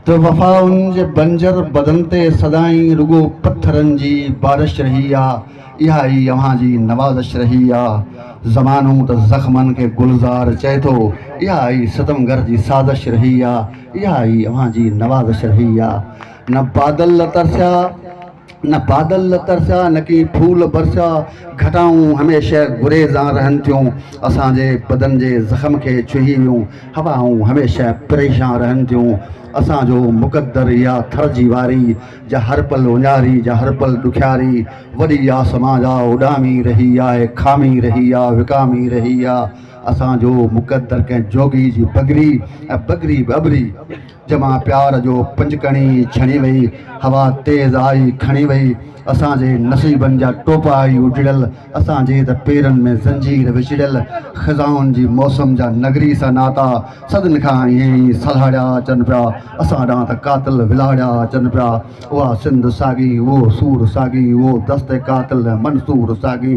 ته وفا ان جي بنجر بدن تي سدائين رڳو پٿرن جي بارش رهي آ، اها ئي اوهان جي نوازش رهي آ. زمانو ته زخمن کي گلزار چئي ٿو، اها ئي ستمگر جي سازش رهي آ، اها ئي اوهان جي نوازش رهي آ. نه بادل ترسيا. نه بادل ترسيا نه ڪي ڦول برسيا، گهٽائون هميشه گريزان رهن ٿيون، اسان جي بدن جي زخم کي ڇهي ويون، هوائون هميشه پريشان رهن ٿيون، اسان جو مقدر اها ٿر جي واري، جا هر پل اڃاري، جا هر پل ڏکياري، وڏي آسمان جا اڏامي رهي آ، کامي رهي آ، وڪامي رهي آ، اسان جو مقدر ڪنهن جوڳي جي بگري ۽ بگري به ابري، جمع پيار جو پنجڪڻي ڇڻي وئي، هوا تيز آئي کڻي وئي، اسان جي نصيبن جا ٽوپا ئي اجڙيل، اسان جي ته پيرن ۾ زنجير وچڙيل، خزائن جي موسم جا نگري سان ناتا، صدين کان ائين ئي سلهاڙيا اچن پيا، اسان ڏانهن ته قاتل ولهاڙيا اچن پيا، اها سنڌ ساڳي اهو سور ساڳي اهو دست قاتل ۽ منصور ساڳي.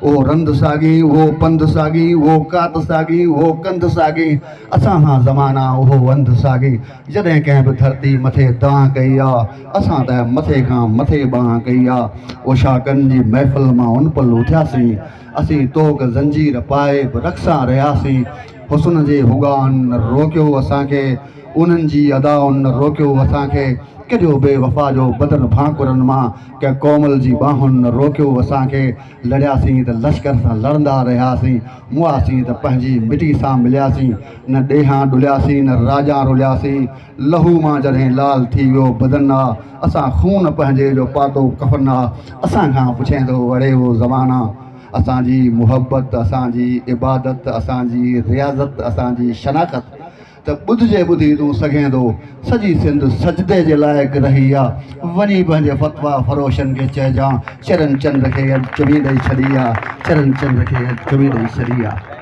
اهو رند ساڳي، اهو پنڌ ساڳي، اهو ڪات ساڳي، اهو ڪنڌ ساڳي، اسان کان زمانا اهو وند ساڳي، جڏهن ڪنهن به ڌرتي مٿي دانهن ڪئي آ، اسان ته مٿي کان مٿي بانهن ڪئي آ، اوشاڪن جي محفل مان ان پل اٿياسين، اسين توڪ زنجير پائي به رخ سان رهياسين، حسن جي هوڳائن نه روڪيو اسان کي، انهن جي ادائن نه روڪيو اسان کي، ڪڏهو بي وفا جو بدن ڀانڪرن مان، ڪنهن ڪومل جي ٻانهن نه روڪيو اسان کي، لڙياسين ته لشڪر سان لڙندا رهياسين، موئاسين ته پنهنجي مٽي سان ملياسين، نه ڏيهان ڏلياسين نه راڄان رلياسين، لهو مان جڏهن لال ٿي ويو بدن آ، اسان خون پنهنجي جو پاتو ڪفن آ، اسان کان پڇين ٿو اڙي هو زمانا، اسان جي محبت، اسان جي عبادت، اسان جي رياضت، اسان جي شناخت. ته ٻڌجي ٻڌي تون سگهيندو سڄي سنڌ سجدي جي لائق رهي آ وڃي پنهنجي فتويٰ فروشن کي چئجان چرن چنڊ کي اڄ چمي ڏئي ڇڏي آ چرن چنڊ کي اڄ چمي ڏئي ڇڏي آ.